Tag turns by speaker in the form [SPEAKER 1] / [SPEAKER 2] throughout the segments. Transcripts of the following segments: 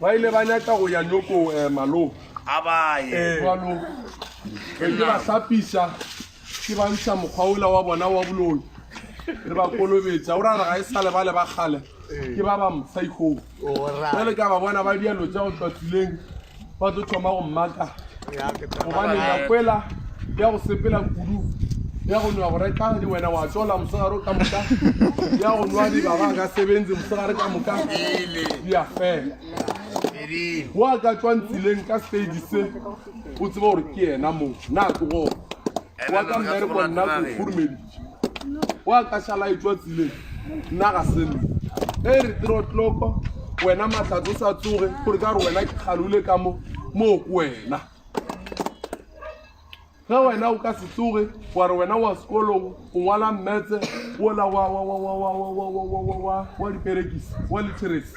[SPEAKER 1] ba ile ba nyaka go ya nyoko um eh, maloo a baye
[SPEAKER 2] eh. jalo
[SPEAKER 1] ke ba hlapisa ke ba ntsha mokgwa ola wa bona wa boloi re ba kolobetsa o ra re ga e sa lebale ba kgale ke ba ba mfaikoo jale ka ba bona ba dialo tsa go tlatuleng ba tlo thoma go mmaka gobane nakwela ya go sepela kudu ya go nwa go reka di wena wa tsola mosegare ka moka ya go nwa dibaba ka sebenzi mosegare ka moka di a fela go a ka tswang tseleng ka stage se o tseba gore ke yena moo na tlogo wa ka mmereko nna ko furumedi wa ka šala e tswa tsileng nna ga se nna e re tiro tloko wena matlhatso sa tsoge gore ka gore wena ke kgalole ka mo moo ko wena ge wena o ka se tsoge wa re wena wa sekolong o ngwala mmetse wola wa diperekisi wa litheresi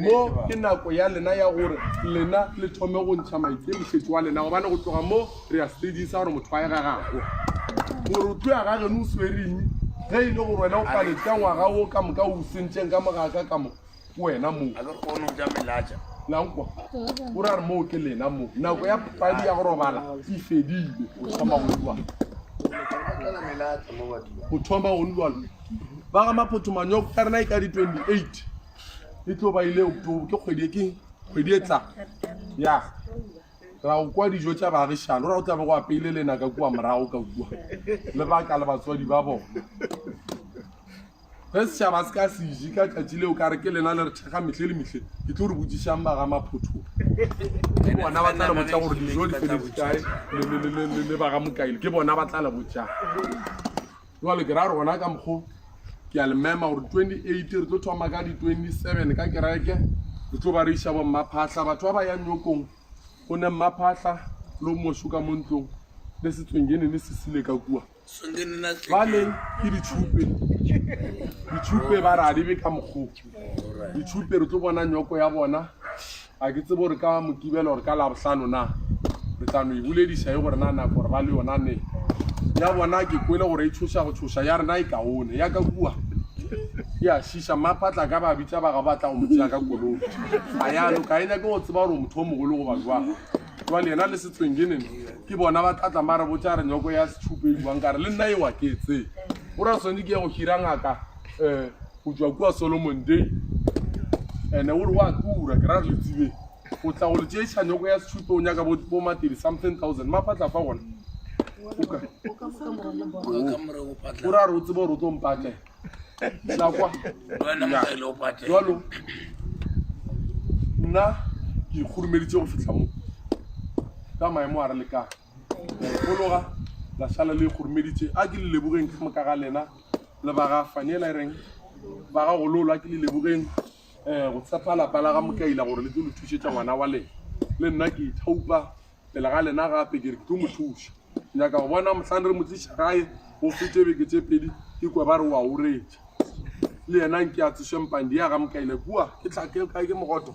[SPEAKER 1] mo ke nako ya lena ya gore lena le thome go ntšha maikemišetso wa lena gobane go tloga mo re ya stadisa gore motho wa e gagago gore o tlo ya ga geno o swereng ge e le gore wena o paletse ka ngwaga o ka moka o sentšeng ka mogaka ka mo wena mo lankwa o ra re moo ke lena mo nako ya padi ya go robala e fedile o thoma go lwa go thoma go lwalo ba ga maphoto manyoko ka rena e ka di-28 e tlo ba ile october ke kgwedi e ke kgwedi e tla ya ra go kwa dijo tša baagišano ra go tlabe go apeile lena ka kua morago ka kua le baka le batswadi ba bona ge setšhaba se ka seje ka tšatši leo ka re ke lena le re thekga metlhe le metlhe ke tlo re botsišang ba ga maphothong ke bona ba tla le botsa gore dijo di feletse kae le ba ga mokaile ke bona ba tla le botsang jwale ke ra gore gona ka mokgo ke a le mema gore 28 re tlo thoma ka di-27 ka kereke re tlo ba re iša bo mmaphahla batho ba ba yang nyokong go ne mmaphahla le o moso ka mo ntlong le setswengene ne se sile ka kua jwale ke ditšhupe ditšhupe ba re a di be ka mokgo ditšhupe re tlo bona nyoko ya bona Ga ke tsebe gore ka Mokibelo gore ka Labohlano na re tla no e bolediša e gore na nako gore ba le yona ne ya bona ke kwele gore e tshoša go tshoša ya rena e kaone ya ka kua ke a šiša mmaphatla ka ba bitsa ba ga ba tla go mo tsea ka kolong ga yalo ka e nyake go tseba gore motho o mogolo go ba jwang jwale yena le setsweng ke nene ke bona ba tlatla ba re botsa re nyoko ya setšhupe e buang ka re le nna ewa ke tse o ra tshwanetse ke ya go hira ngaka um go tšwa kua solomon day ande o re wa tura ke ra re le tsebeng go tla go le tšeiša nyoko ya setšhuto o nyaka bo matedi something thousand mapatla fa gona o ra re o tsebe gore o tlo mpatlela lakwa jalo nna ke ikgorumeditse go fitlha mo ka maemo a re lekang la e fologa la šala le e kgoromeditše a ke le lebogeng ka moka ga lena le ba ga fanela e reng ba ga gololo a ke le lebogeng um go tshepa lapa la ga mokaila gore le tlo le thušetša ngwana wa lena le nna ke ithaupa pele ga lena gape ke re ke tlo mo thuša nyaka go bona mohlang re mo tliša gae go fete beke tše pedi ke kwa ba re wa oretša le yena nke a tsošempang di ya ga mokaila kua ke tlhake kae ke mogoto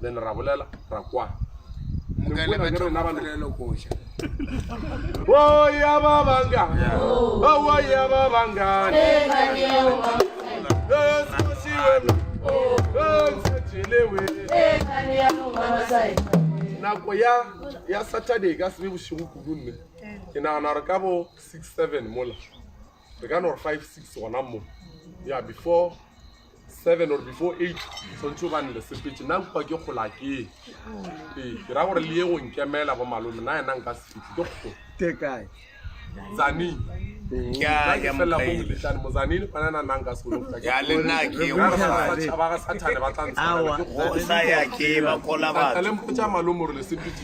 [SPEAKER 1] le le ra bolela ra kwa mokale ba thoma polelo koša oya ba banga oya ba banga nako ya ya saturday ka sebe bošego kudu nne ke nagana gore ka bo six seven mola re ka no re five six gona mo ya before seven or before eight tshwanetse o bane le sepetse nna nkwa ke kgola ke ee ke ra gore le ye go nkemela bo malome na yena nka
[SPEAKER 3] sefitlhe
[SPEAKER 1] ke kgo ke kae zaning
[SPEAKER 2] mozanini kwana na
[SPEAKER 1] nna nka sekolotšhaba
[SPEAKER 2] ga
[SPEAKER 1] sathane ba tla ntshwarela
[SPEAKER 2] ke kgole mpotsa malome gore
[SPEAKER 1] le sepetse